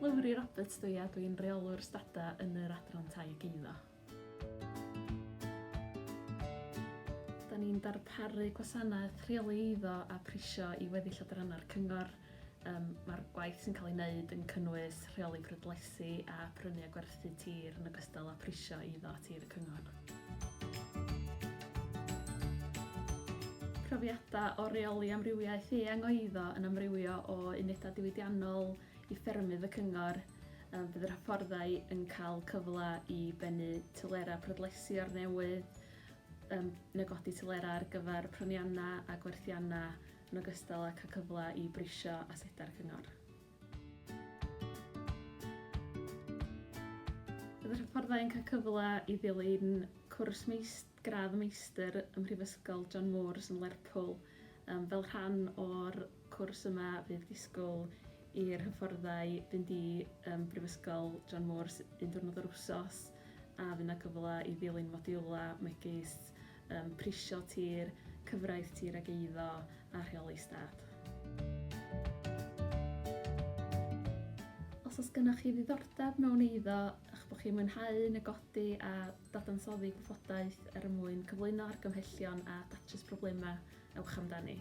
Lowri Roberts dw i a dw i'n Rheolwr Stada yn yr Adran Tai ac Eiddo. Da ni'n darparu gwasanaeth rheoli eiddo a prisio i weddill adrannau'r Cyngor. Yym, mae'r gwaith sy'n cael ei wneud yn cynnwys rheoli prydlesu a phrynu a gwerthu tir yn ogystal â phrisio eiddo a tir y cyngor. profiadau o reoli amrywiaeth eang o eiddo yn amrywio o unedau diwydiannol i ffermydd y cyngor, um, bydd yr hyfforddai yn cael cyfle i bennu tylera prydlesu o'r newydd, um, negodi tylera ar gyfer pryniannau a gwerthiannau yn ogystal â cael cyfle i brisio asedau'r Cyngor. Bydd y hyfforddai yn cael cyfle i ddilyn cwrs meist, gradd meistr ym Mhrifysgol John Moores yn Lerpwl. Um, fel rhan o'r cwrs yma fydd disgwyl i'r hyfforddai fynd i um, Brifysgol John Moores un diwrnod yr wsos a fydd yna cyfle i ddilyn modiwlau megis Yym, prisio tir, cyfraith tir ag eiddo a rheoli stad. Os oes gennych chi ddiddordeb mewn eiddo, eich bod chi'n mwynhau negodi a dadansoddi gwybodaeth er mwyn cyflwyno argymhellion a datrys problemau, ewch amdani.